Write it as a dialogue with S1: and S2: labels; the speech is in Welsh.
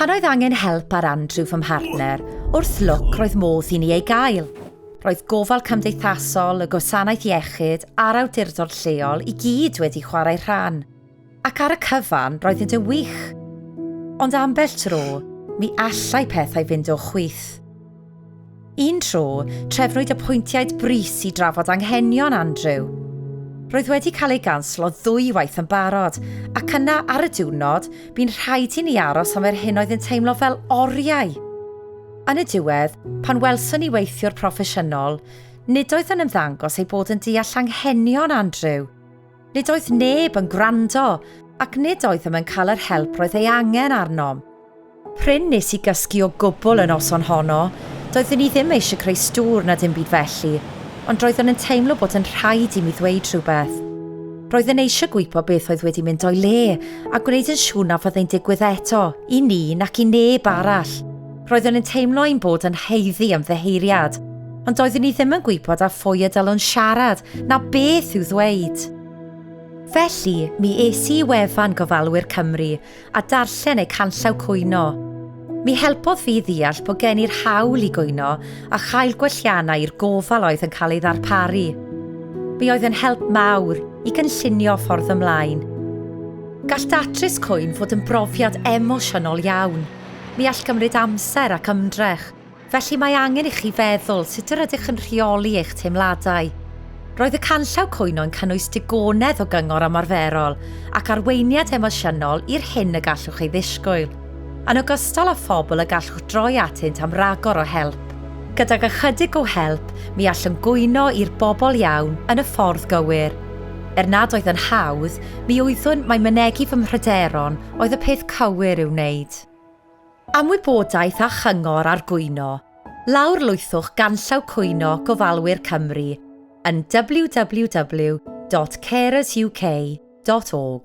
S1: Pan oedd angen help ar Andrew fy mhartner, wrth lwc roedd modd i ni ei gael. Roedd gofal cymdeithasol, y gwasanaeth iechyd a'r awdurdod lleol i gyd wedi chwarae rhan. Ac ar y cyfan, roedd yn wych. Ond ambell tro, mi allai pethau fynd o chwith. Un tro, trefnwyd apwyntiaid brys i drafod anghenion Andrew. Roedd wedi cael ei ganslo ddwywaith yn barod, ac yna ar y diwrnod, bu'n rhaid i ni aros am yr hyn oedd yn teimlo fel oriau. Yn y diwedd, pan welson ni weithiwr proffesiynol, nid oedd yn ymddangos ei bod yn deall anghenion Andrew. Nid oedd neb yn gwrando, ac nid oeddem yn cael yr help roedd ei angen arnom. Prin nes i gysgu o gwbl y noson honno, doeddwn i ddim eisiau creu stŵr na dim byd felly, ond roeddwn yn teimlo bod yn rhaid i mi ddweud rhywbeth. Roedd yn eisiau gwybod beth oedd wedi mynd o'i le, a gwneud yn siŵr na fyddai'n digwydd eto, i ni nac i neb arall. Roeddwn yn teimlo ein bod yn haeddu ymddiheuriad, ond doeddwn i ddim yn gwybod a phwy y dylwn siarad na beth i'w ddweud. Felly, mi es i i wefan Gofalwyr Cymru a darllen eu canllaw cwyno. Mi helpodd fi ddeall bod gen i'r hawl i gwyno a chael gwelliannau i'r gofal oedd yn cael ei ddarparu. Mi oedd yn help mawr i gynllunio ffordd ymlaen. Gall datrys cwyn fod yn brofiad emosiynol iawn. Ni all gymryd amser ac ymdrech, felly mae angen i chi feddwl sut yr ydych yn rheoli eich teimladau. Roedd y canllaw cwyno yn cynnwys digonedd o gyngor ymarferol ac arweiniad emosiynol i'r hyn y gallwch ei ddisgwyl, yn ogystal â phobl y gallwch droi atynt am ragor o help. Gydag ychydig o help, mi allwn gwyno i'r bobl iawn yn y ffordd gywir. Er nad oedd yn hawdd, mi oeddwn, mae mynegi fy mhryderon, oedd y peth cywir i'w wneud. Am wybodaeth a chyngor ar gwyno, lawrlwythwch ganllaw Cwyno Gofalwyr Cymru yn www.carersuk.org.